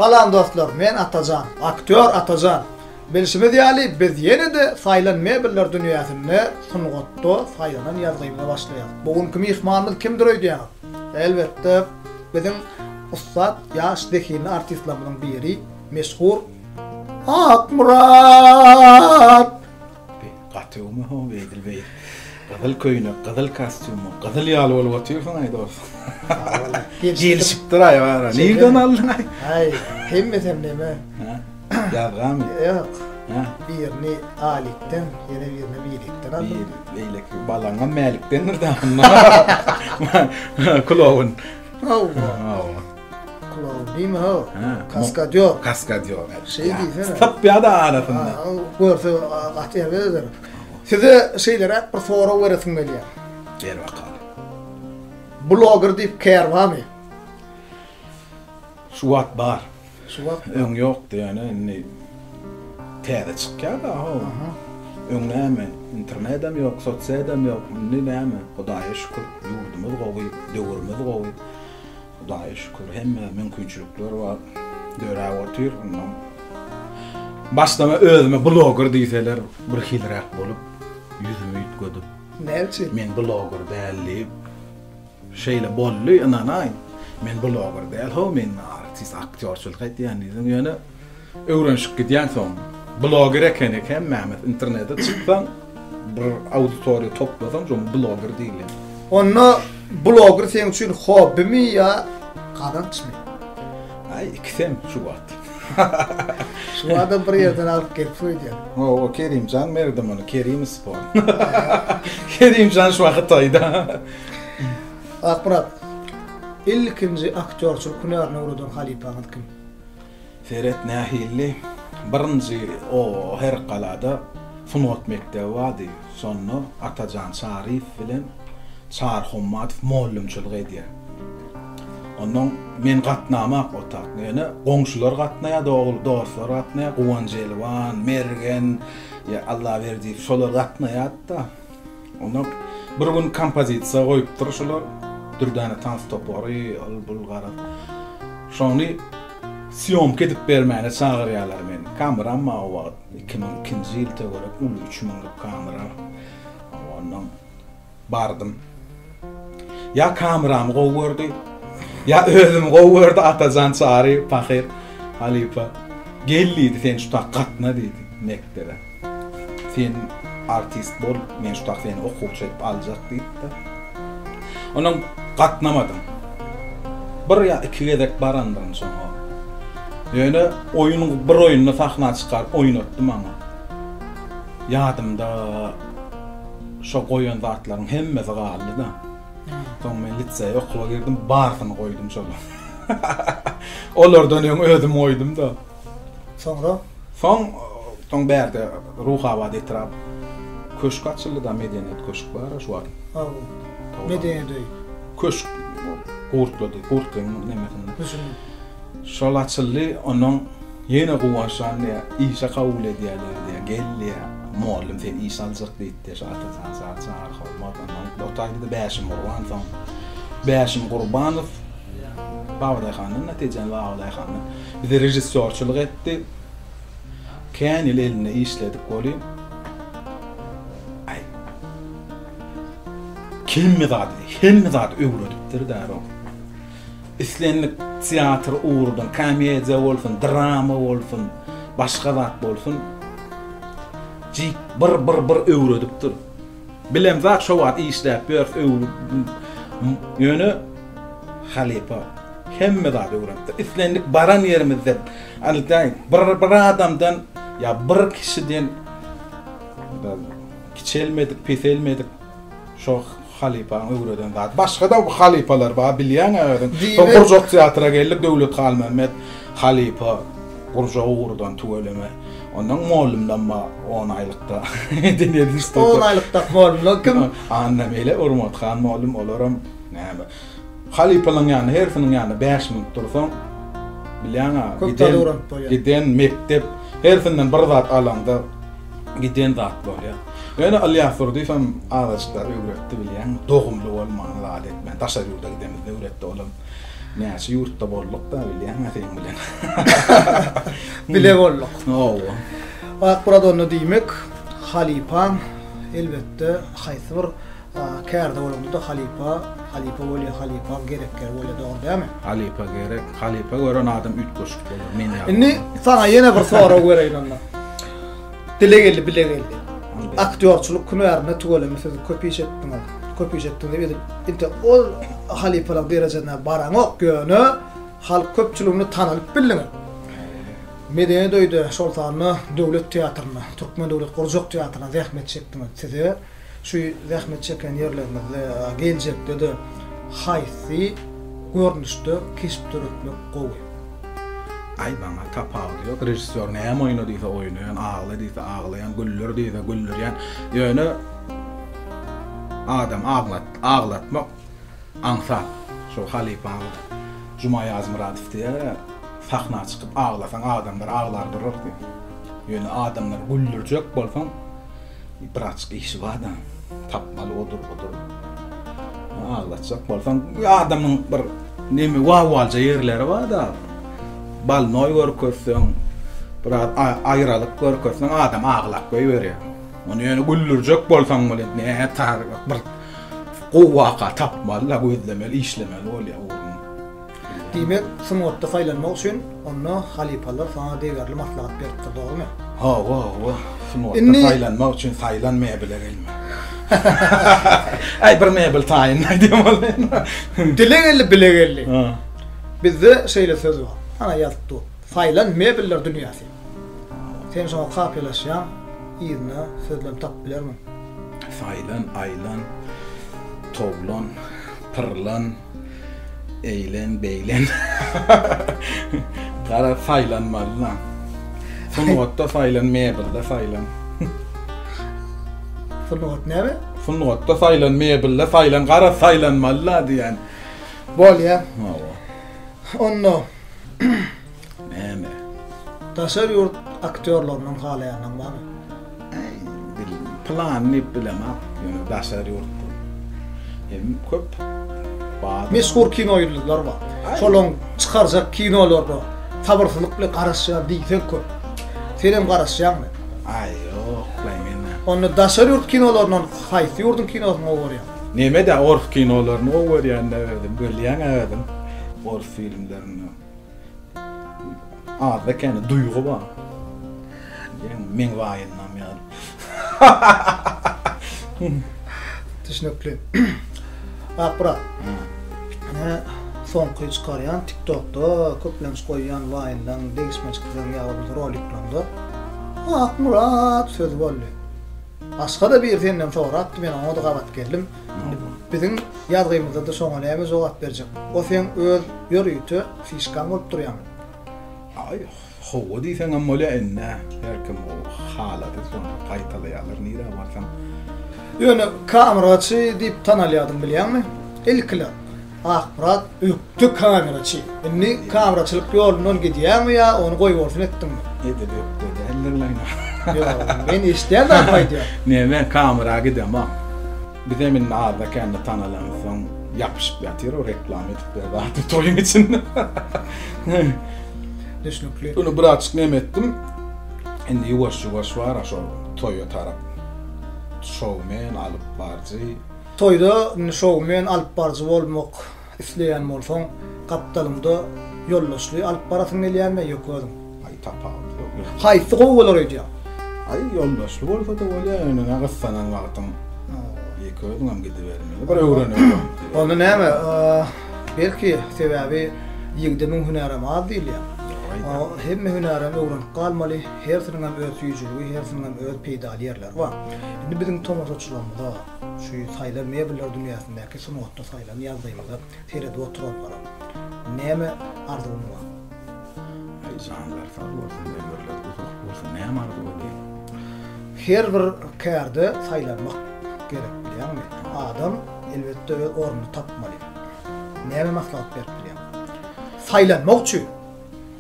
Salam dostlar men Atajan aktýor Atajan bilşimiz ýaly biz ýene-de saýlan mebeller dünýäsinde sungatda saýlanan ýazgymyza başlaýas bu günki myhmanymyz kimdir öýdýäňiz elbetde biziň ussat ýaş zehinli artistlarymyzyň biri meşhur Akmyrat. Gaty oňe ho Edil beý. Gyzyl köýnek, gyzyl kostýum, gyzyl ýaly bolup otyrsyň aý dos. Gelişipdir aý bara. Nirden aldyň aý? Aý, hemmesem neme? Ýazgamy? Ýok. Birini Alikden, ýene birini Milikden aldym. Beýleki balaňam Mälikdendir daşynda. Kulogyn. Hawa. Klaudin ha. Kaskadýor. Kaskadýor. Şey diýsene. Tapýa da arasynda. Görse gaty ýerdedir. Size şeýlere bir sorag beresim gelýär. Ber bakalım. Blogger diýip kär barmy? Şu wagt bar. Şu wagt öň ýokdy ýöne indi täze çykýar da ho. Öň näme internetem ýok, sosiýadam ýok. Indi näme? Hudaýa şükür, ýurdumyz gowy, döwürimiz gowy. Hudaýa şükür, hemme mümkinçilikler bar, döräp otyr. Mundan başlama özüme bloger diýseler, birhiliräk bolup, ýüzümi üýtgedip, Näme üçin? Men bloger däl diýip, şeýle boldy, ynanaýyň. Men bloger däl, ho, men artist, aktýorçylyk etýän diýdim. Ýöne Öwrenşip gidýänsoň, bloger ekeni hemmämiz internete çyksaň bir auditoriýa toplasaň şoň bloger diýilýär. Onda bloger seň üçin hobbimi ýa gazançmy? Aý ikisem şu wagt. Şu wagtam bir ýerden alyp gelip söýdýän. Hawa Kerimjan Merdiman Kerim spor. Kerimjan şu wagt Hytaýda. Akmyrat. Ilkinji aktýorçylyk hünärine ugradan halypaňyz kim? Seret nähilli birinji o her galada sungat mekdebi bardy şonda Atajan Çaryýew bilen Çary Hommatow mollymçylyk edýär. Ondan men gatnamak otak ýöne goňşular gatnaýar dogry dostlar gatnaýar Guwanjelwan Mergen Allaberdiýew şolar gatnaýardy da Onda bir gün kompozisiýa goýupdyr şular, dürdäne tans topary, ol-bul garaz. Şony sýomka edip bermäne çagyrýarlar meni. Kameram bar o wagt, iki müň ikinji ýyl töwerek, uly üç müňlük kamera. Ondan bardym. Ýa kameramy gowy gördi, ýa özümi gowy gördi, Atajan Çary pahyr halypa gel diýdi, sen şutak gatna diýdi mekdebe. Sen artist bol, men şutak seni okuwçy edip aljak diýipdir. Ondan gatnamadym. Bir ýa iki gezek barandyryn şoňa. Ýöne oýun bir oýunda sahna çykaryp oýnatdy maňa. Ýadymda şo goýan zatlaryň hemmesi galdy-da. Soň men liseýe okuwa girdim, barsyny goýdum şolaryň. Olardan öň özüm goýdum-da. Soňra? Soň, soň bärde Ruhabat etrap köşk açyldy-da, Medeniýet köşk bar-a şu wagt. Hawa. Medeniýet öýi. Köşk gurtlady, gurtlygyň nemesinde. Düşündim. Şol açyldy, ondan ýene guwançlan diýä, işe kabul edýäler diýä, gel diýä, mugallym seni işe aljak diýipdi, şu Atajan, Jajan, Arhowmat, ondan otaýdy-da Bäşim Gurban, soň Bäşim Gurbanow Babadaýhandan, netijen Babadaýhandan bize režissýorçylyk etdi. Kän ýyl elinde işledik welin, aý, hemme zady, hemme zady öwredipdir-dä bu. Islendik teatr ugrudan, komediýa bolsun, drama bolsun, başga zat bolsun, jik bir, bir, bir öwredip dur. Bilen zat şo wagt işläp ýörüs, öwrüp, ýöne halypa hemme zady öwrenipdir. Islendik baran ýerimizde, alytaý, bir, bir adamdan ýa bir kişiden kiçelmedik, peselmedik, şo, Halypaň öwreden zady başgada bu halypalar bar bilýäňä özüň şo gurjak teatra geldik Döwlet Halmämmet halypa gurjagy gurdan tüweleme ondan mollumdan bar on aýlykda on aýlykda mollum kim Annameýle Urmathan mollum olaram näme. Halypalaň ýanynda hersiniň ýanynda bäş minut dursaň, bilýäňä, giden mekdep, hersinden bir zat alaňda giden zat bolýar. Ýöne Ylýasdurdyýewem azajyklar öwretdi bilýäňmi, dogumly bolman zat etmän, daşary ýurda gidemizde öwretdi, olam näçe ýurtda bolduk-da bilýäňä seň bilen. Bile bolduk. Hawa. Akmyrat onda diýmek, halypaň elbetde haýsy bir Kärde bolanda-da halypa, halypa bolýa, halypaň gerek ýeri bolýa, dogry dälmi? Halypa gerek, halypa gören adam üýtgeşik bolar, men ýaly. Indi saňa ýene bir sorag bereýin onda. Dile geldi, bile geldi. Aktýorçylyk hünärinde tüweleme siz köp iş etdiňiz, köp iş etdiňiz edip, inte ol halypalyk derejesine baraňok, ýöne halk köpçüliginde tanalyp bildiňiz. Medeni toýda, şol sanda Döwlet teatrynda, Türkmen döwlet gurjak teatrynda zähmet çekdiňiz. Size Şu zähmet çeken ýerlerimizde geljekde-de haýsy görnüşde keşp döretmek gowy? Aý maňa tapawudy ýok režissýor näme oýna diýse oýnaýan agla diýse aglaýan güller diýse güldürýän ýöne adam aglat aglatmak aňsat şo halypamyz Juma Ýazmyradow diýer sahna çykyp aglasaň adamlar aglar durar diýip ýöne adamlary güldürjek bolsaň Braçka işi barda tapmaly odur budur aglatjak bolsaň adamyň bir nemi wawalja ýerleri barda balnoý görkezseň biraz aýralyk görkezseň adam aglap goýberýär ony ýöne güldürjek bolsaň welin nätari bir gowy waka tapmaly-la gözlemeli işlemeli bolýar. Diýmek, sungatda saýlanmak üçin onda halypalar saňa degerli maslahat beripdir, dogrumy? Hawa, hawa, sungatda saýlanmak üçin saýlan mebele gelme. Äý, bir mebel taýyn aýdýan bolsaýyn. Dile geldi, bile geldi. Bizde şeýle söz bar. Ana ýazyp dur. Saýlan mebeller dünýäsi. Sen şoňa kapylaşýan, yzyna sözlem tapyp bilermiň? Saýlan, aýlan, towlan, pyrlan. Eýlen, beýlen. Gara saýlanmaly lan. Sungatda saýlan, mebelde saýlan. Sungat näme? Sungatda saýlan, mebelde saýlan, gara saýlanmaly la diýen. Bolýa. Hawa. Onda näme? Daşary ýurt aktýorlaryndan halaýanyň barmy? Äý, dil, pylany diýip bilemok, ýöne daşary ýurtdan hem köp bar. Meşhur kino ýyldyzlary bar. Şolaryň çykarjak kinolaryna sabyrsyzlyk bilen garaşýan diýseň köp. Senem garaşýaňmy? Aý, ýoklaý men. Onda daşary ýurt kinolaryndan haýsy ýurduň kinosyny gowy görýäň? Neme-de, ors kinolaryny gowy görýän-dä özüm, bilýäň-ä özüň, ors filmlerini. Azda kene duýgy bar. Diýen meň waýynam ýaly. Düşnükli. Akbra. Ine soňky çykarýan TikTokda köplenç goýýan waýynlaň, degişmejikleň ýa bolmasa roliklaňda Akmyrat sözi boldy. Başga-da biri senden sorapdy, men oňa-da gabat geldim. Biziň ýazgymyzda-da şoňa näme jogap berjek? O seň öz ýörite fişkaň bolup durýamy? Aý, howwa diýseňem bolýa indi-ä. Her kim o halaty sony gaýtalaýarlar nirä barsaň. Ýöne kameraçy diýip tanalýadym bilýäňmi? Ilkiler. Akpyrat ökde kameraçy. Indi kameraçylyk ýolundan gidýäňmi ýa ony goýbolsun etdiňmi? Edil ökde däldir laýna. Ýok, men eşidýän zadymy aýdýan. Ne men kamera gidemok. Bizem indi azda-kände tanalansoň ýapyşyp ýatyr reklama edip bir zat toýuň içinde. Düşnükli. Indi birazjyk neme etdim. Indi ýuwaş-ýuwaş bar-a şol toýa tarap şoumen, alypbarjy. Toýda şoumen alyp baryjy bolmak isleýän bolsaň, gapdalyňda ýoldaşly alyp barasyň gelýärmi ýoka özüň? Aý tapawudy ýok. Haýsy gowy bolar öýdýäň? Aý ýoldaşly bolsada bolýar ýöne ine gyssanan wagtyň ýeke özüňem gidibermeli bir öwreneli wagt. Onda näme belki sebäbi ýigide müň hünärem az diýilýär. Hemme hünärem öwrenip galmaly, hersiniňem öz süýjüligi, hersiniňem öz peýdaly ýerleri bar. Indi biziň tomaşaçylarymyza. Şu saýlan mebeller dünýäsindäki sungatda saýlan ýazgymyza seredip oturanlara näme arzuwym bar? Aý janlary sag bolsun ömürleri uzak bolsun näme arzuw edeyim. Her bir kärde saýlanmak gerek bilýäňmi? Adam elbetde öz ornuny tapmaly. Näme maslahat berip bilýäň? Saýlanmak üçin.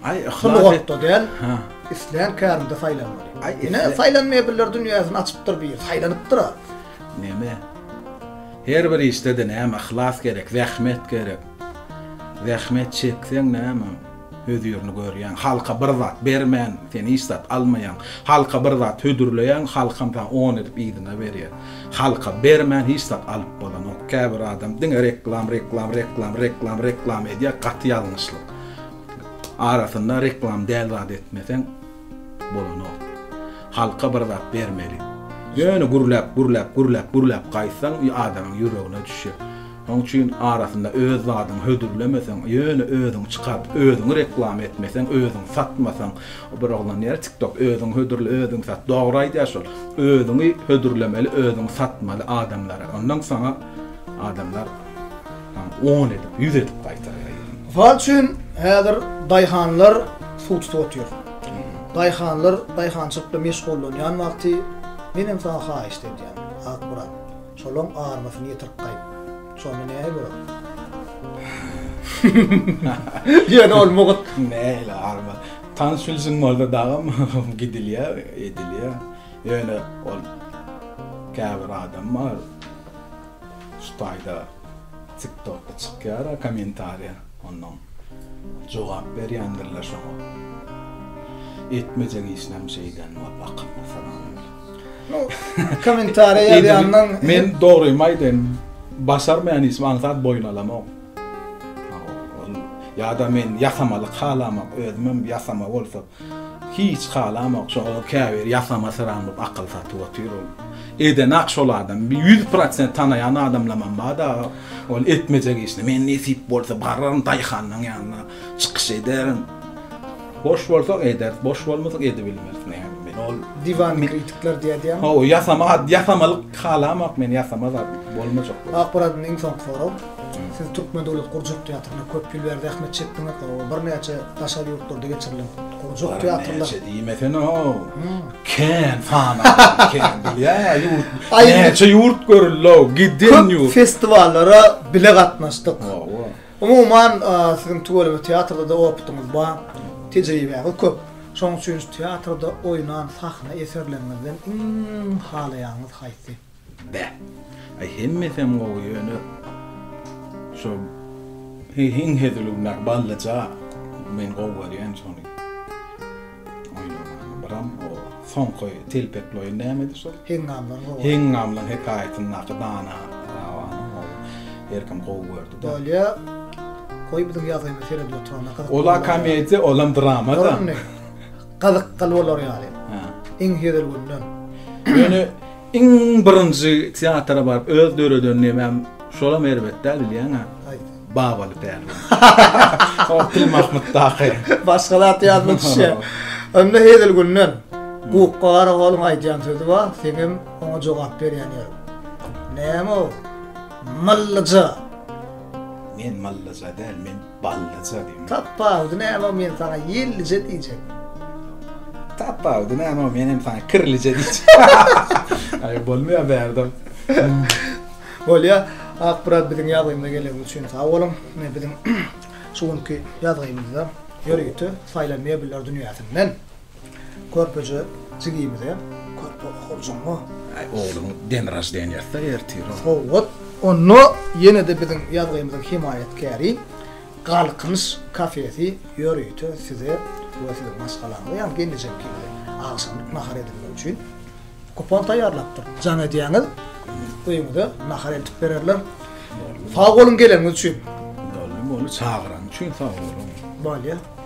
Aý, şu lugotda däl. Ha. Islän kärinde saýlanmaly. Aý, ine saýlanmaýa biller dünýäsini açypdyr bir, saýlanypdyr-a. Neme? Her bir işde-de näme yhlas gerek, zähmet gerek. Zähmet çekseň näme? Hözirini görýäň. Halka bir zat bermän, sen hiç zat almaýaň. Halka bir zat hödürleýäň, halkam saňa on edip yzyna berýär. Halka bermän hiç zat alyp bolanok. Käbir adam diňe reklam, reklam, reklam, reklam, reklam edýär, gaty ýalňyşlyk. Arasynda reklam däl zat etmeseň bolanok. Halka bir zat bermeli. Ýöne gürläp, gürläp, gürläp, gürläp gaýtsaň adamyň ýüregine düşýär. Şoň üçin arasynda öz zadyňy hödürlemeseň, ýöne özüňi çykar, özüňi reklam etmeseň, özüňi satmasaň, bir oglan diýýär tiktok özüňi hödürle, özüňi sat. Dogry aýdýar şol. Özüňi hödürlemeli, özüňi satmaly adamlara. Ondan saňa adamlar. On edip, ýüz edip gaýtarýar. Mysal üçin, häzir daýhanlar suw tutup otyr. Daýhanlar daýhançylykda meşgullanýan wagty, menem saňa haýyşt edýän, Akmyrat, şolaň armasyny ýetirip gaýt. Şonda näme bolar? Ýöne ol mugt. Nähili arma? Tanyş-bilşiň bolsa dagam gidilýär, edilýär. Ýöne ol käbir adam bar. Şu taýda tik tokda çykýara komentariýa onnoň jogap berýändirler şoňa etmejek işinem şeýden bor bakymly sanalýar. Nu komentariýa ýazýandan men dogrymy aýdaýyn başarmaýan işimi aňsat boýun alamok. Ýa-da men ýasamalyk halamok, özümem ýasama bolsa hiç halamok, şoňa käbir ýasama syranlyp akyl satyp otyr ol. Edenak şol adam, bir ýüz prosent tanaýan adamlamam bar dagy, ol etmejek işini, men nesip bolsa bararyn daýhanyň ýanyna, çykyş ederin. Boş bolsa ederis, boş bolmasa edibilmeris näme men ol. Diwan kritikler diýýärdiýäňmi? Hawa, ýasama, ýasamalyk halamok men, ýasama zat bolmajak. Akmyradyň iň soňky soragy. Siz Türkmen döwlet gurjak teatrynda köp ýyl bäri zähmet çekdiňiz. Birnäçe daşary ýurtlarda geçirilen gurjak teatrlar. Birnäçe diýmesene-ow. Kän sanardan kän bolýar-a ýurt. Näçe ýurt görüldi-ow, giden ýurt. Köp festiwallara bile gatnaşdyk. Umuman, siziň tüweleme teatrda-da opytyňyz bar, tejribäňiz köp. Şonuň üçin teatrda oýnan sahna eserleriňizden iň halaýanyňyz haýsy? Beh. Aý hemmesem gowy ýöne şo iň hezil günäk ballyja men gowy görýän şony. Oýnamaga biram o soňky telpekli oýun nämedi şol? Heňňamlar gowy. Heňňamlar hekaýatyndaky dana Rabanyň oýny herkim gowy gördi-de. Bolýa. Goý biziň ýazgymy seredip oturanda gyzyk. Ola komediýa, olam drama-da. Dur indi. Gyzykly bolar ýaly. Iň hezil günden. Ýöne Iň birinji teatra baryp öz döreden nemäm şolam erbet däl bilýäňä. Haýsy? Babaly pärlan. Ol Pilmahmytdaky. Başga zat ýadyma düşýä. Onda hezil günden Gukga Garagolyň aýdýan sözi bar, seňem oňa jogap berýän ýörüň. Näme o? Myllyja. Men myllyja däl, men Ballyja diýme. Tapawudy näme men saňa ýellije diýjek. Tapawudy näme men hem saňa kirlije diýjek. Aý bolmaýa bärden. Bolýa. Ak brat biziň ýazgymyza geleniňiz üçin sag boluň. Biziň şu günki ýazgymyzda ýörite saýlan mebler dünýäsinden. Körpeje jigimize körpe okurjyňmy? Aý ogluň den raždeniýasy-da ertir. Sowgat, onda ýene-de biziň ýazgymyzyň hemaýatkäri Galkynyş kafesi ýörite size we siziň maşgalaňyza, ýagny gelnejeňkimize agşamlyk nahar edinmek üçin kupon taýýarlapdyr. Jaň edýäňiz, öýüňize nahar eltip bererler. Sag boluň geleniňiz üçin. Boldy, boldy, çagyranyň üçin sag boluň. Bolýa.